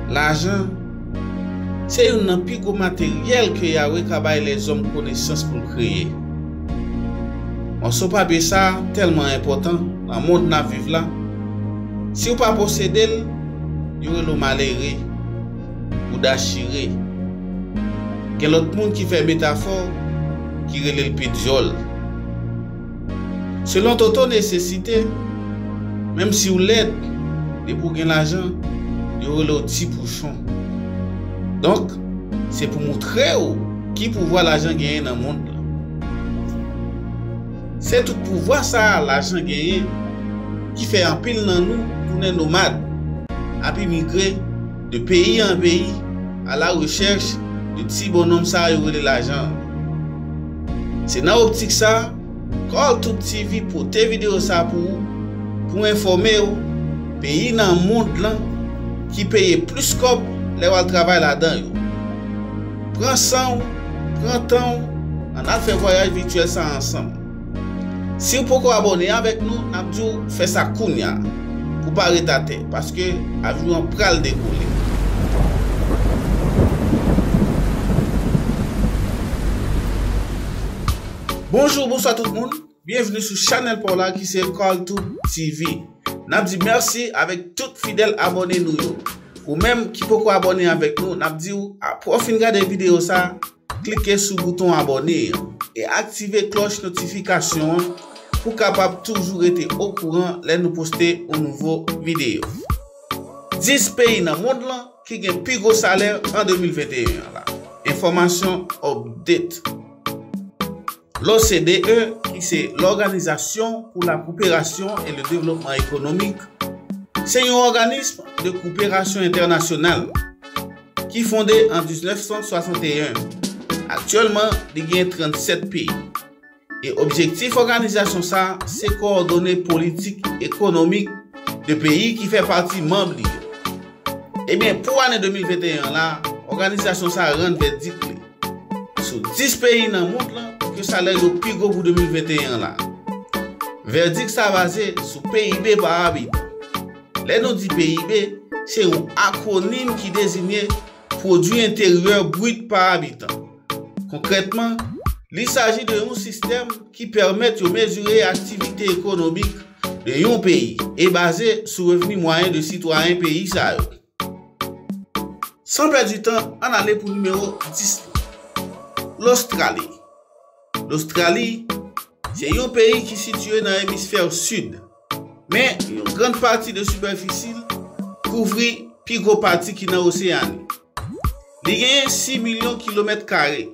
Lajan se youn nan pi gwo materyèl ke Yahweh ka bay lèzòm konesans pou l kreye. Mòso papye sa a tèlman enpòtan nan mond n ap viv la, si ou pa posede l, yo rele w malere. bouda chire. Gen lòt moun ki fè metafò ki rele l pe dyòl. Selon Toto nesesite, menm si w lèd, depi w gen lajan, yo rele w ti pouchon. Donk, se pou moutre w ki pouvwa lajan genyen nan mond lan. Se tout pouvwa sa a lajan genyen ki fè anpil nan nou tounen nomad ap imigre de peyi an peyi ala rechèch de ti bonnonm sa yo rele lajan an. Se nan optik sa Carltubetv pote videyo sa pou ou pou enfòme ou peyi nan mond lan ki peye plis kòb lè wal travay ladan yo. Pran san w, pran tan w, an n al fè vwayaj vityèl sa ansanm. Si w poko abòne avèk nou, n ap di w fè sa kounya pou w pa ret atè, paske avyon an pral dekole. Bonjou, bonswa tout moun! Byenvni sou chanèl paw la ki se Carltube TV. Nap di mèsi avèk tout fidèl abòne nou yo. Ou menm ki poko abòne avèk nou nap diw aprè w fin gade videyo sa, klike sou bouton abòne an e aktive klòch notifikasyon an pou kapab toujou rete okouran lè nou poste yon nouvo videyo. 10 peyi nan mond lan ki gen pi gwo salè an 2021 an la. Enfòmasyon update. L'OCDE, ki se L'Organisation pour la Coopération et le Développement Économique, se yon òganism de kouperasyon entènasyonal ki fonde an 1961. Aktyèlman, li gen 37 peyi, e objektif òganizasyon sa a se kowòdone politik ekonomik de peyi ki fè pati manb li yo. Ebyen, pou ane 2021 an la, òganizasyon sa a rann vèdik li. Sou 10 peyi nan mond lan ke salè yo pi gwo pou 2021 an la. Vèdik sa baze sou PIB pa abitan. Lè nou di PIB, se yon akwonim ki dezinye Pwodui Enteryè Brit pa Abitan. Konkrètman, li saji de yon sistèm ki pèmèt yo mezire aktivite ekonomik de yon peyi e baze sou revni mwayen de sitwayen peyi sa yo. San pèdi tan, ann ale pou nimewo 10 lan. Lostrali Lostrali se yon peyi ki sitiye nan emisfè sid. Men, yon grann pati de sipèfisi l kouvri pi gwo pati ki nan oseyan. Li genyen 6 milyon kilomèt kare.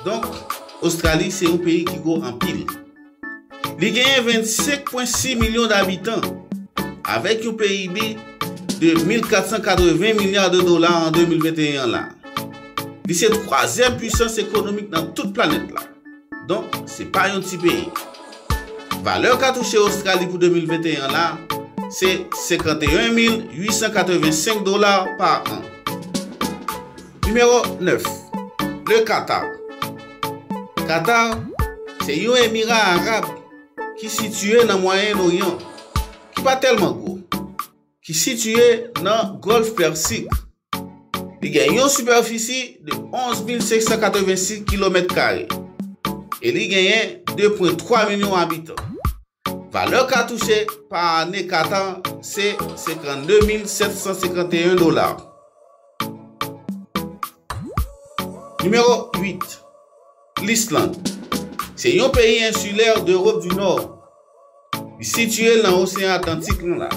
Donk, Ostrali se yon peyi ki gwo anpil. Li genyen 25.6 milyon dabitan, avèk yon PIB de 1.480 milya de dola an 2021 an la. Li se twazyèm pwisans ekonomik nan tout planèt la. Donk, se pa yon ti peyi. Valè katouche Ostrali pou 2021 an la, se 51.885 dola pa an. Nimewo 9, Le Qatar Qatar se yon emira arab ki sitiye nan Mwayen Oryan, ki pa tèlman gwo, ki sitiye nan Gòlf Pèsik. Li gen yon sipèfisi de 11,586 kilomèt kare e li genyen 2,3 milyon abitan. Valè ka touche pa ane Katan se 52,751 dola. Nimewo 8. Lisland. Se yon peyi ensilè de Ewop di Nò. Li sitye nan Oseyan Atlantik lan la.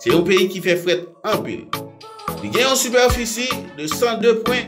Se yon peyi ki fè frèt anpil. Li gen yon sipèfisi de 102 pwen.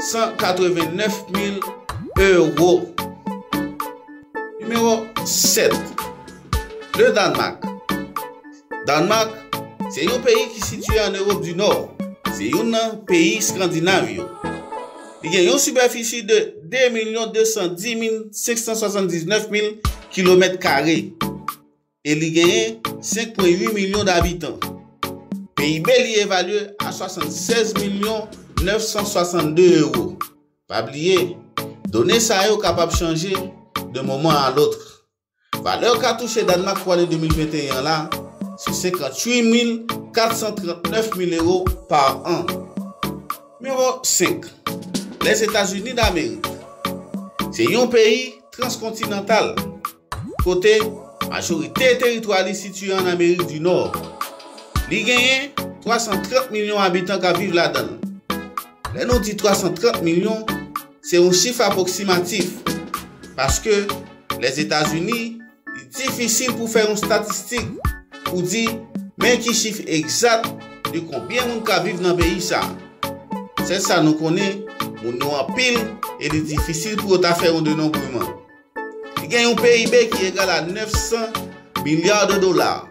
189 mil ewo. Nimewo 7. Le Danmak. Danmak se yon peyi ki sitye an Ewop di Nò. Se yon nan peyi Skandinav yo. Li gen yon sipèfisi de 2 milyon 210 mil 579 mil kilomèt kare. e li genyen 5.8 milyon dabitan. PIB li evalye a 76 milyon 962 ewo. Pa bliye, done sa yo kapab chanje de moman a lotre. Valè ka touche Dànmak pou ane 2021 an la se 58 mil 439 mil ewo pa an. Nimewo 5, Lèzetazini Damerik Se yon peyi transkontinantal. Kote majorite teritwa li sitiye ann Amerik di Nò. Li genyen 330 milyon abitan k ap viv ladan l. Lè nou di 330 milyon, se yon chif apwoksimatif, paske Lèzetazini li difisil pou fè yon statistik pou di men ki chif egzat de konbyen moun k ap viv nan peyi sa. Sèl sa nou konnen, moun yo anpil e li difisil pou yo ta fè yon denonbreman. Li gen yon PIB ki egal a 900 milliards de dollars.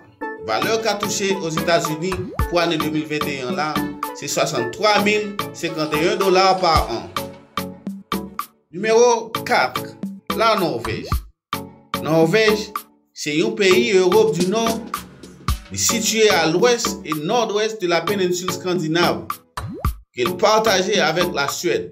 Valè ka touche Ozetazini pou ane 2021 an la se 63,051 dollars pa an. Nimewo 4, La Norvèj. Norvèj se yon peyi Europe du Nord. Li sitiye a lwès e nòdwès de la Peninsul Scandinave, ke l pataje avèk la Suède.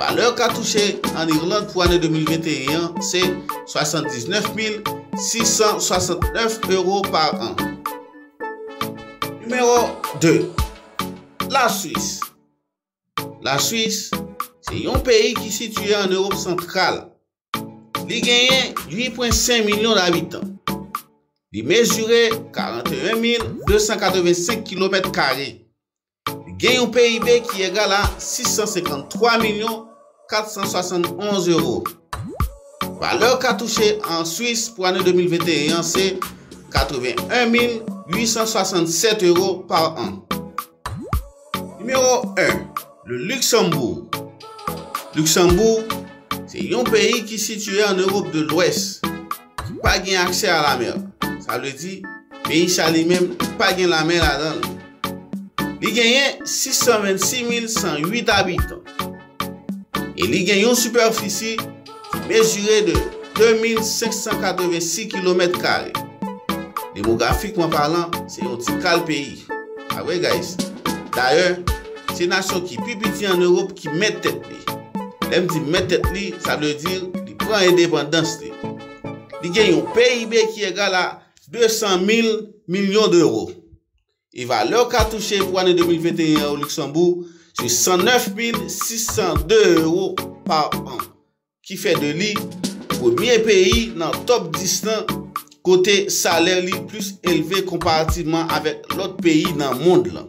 Valè ka touche an Irland pou ane 2021 an se 79,669 ewo pa an. Nimewo 2, La Swis La Swis se yon peyi ki sitye an Ewop Santral. Li genyen 8,5 milyon dabitan. Li mezire 41,285 kilomèt kare. Gen yon PIB ki egal a 653 milyon 471 ewo. Valè ka touche an Swis pou ane 2021 an se 81 mil 867 ewo pa an. Nimewo 1, Le Luxembourg Luksanboug se yon peyi ki sitiye an Ewop de Lwès. ki pa gen aksè a la mer, sa vle di, peyi sa li menm ki pa gen lamè ladan l. Li genyen 626108 abitan e li gen yon sipèfisi ki mezire de 2586 kilomèt kare. Demografikman palan, se yon ti kal peyi. Pa vre guys? Dayè, se nasyon ki pi piti an Ewop ki mèt tèt li. Lè m di mèt tèt li, sa vle di li pran endepandans li. Li gen yon PIB ki egal a 200 mil milyon dewo. E valè katouche pou ane 2021 an o Luksanbou se 109 mil 602 ewo pa an. Ki fè de li premye peyi nan top 10 lan kote salè li plis elve konparativman avèk lòt peyi nan mond lan.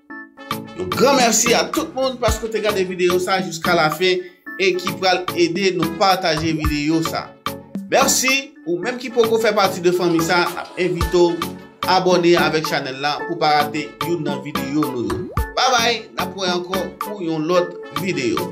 Yon gran mèsi a tout moun paske w te gade videyo sa jiska lafen e ki pral ede nou pataje videyo sa. Mèsi! Ou menm ki poko fè pati de fanmi sa n ap envite w abòne avèk chanèl la pou w pa rate youn nan videyo nou yo. Babay! N ap wè ankò pou yon lòt videyo.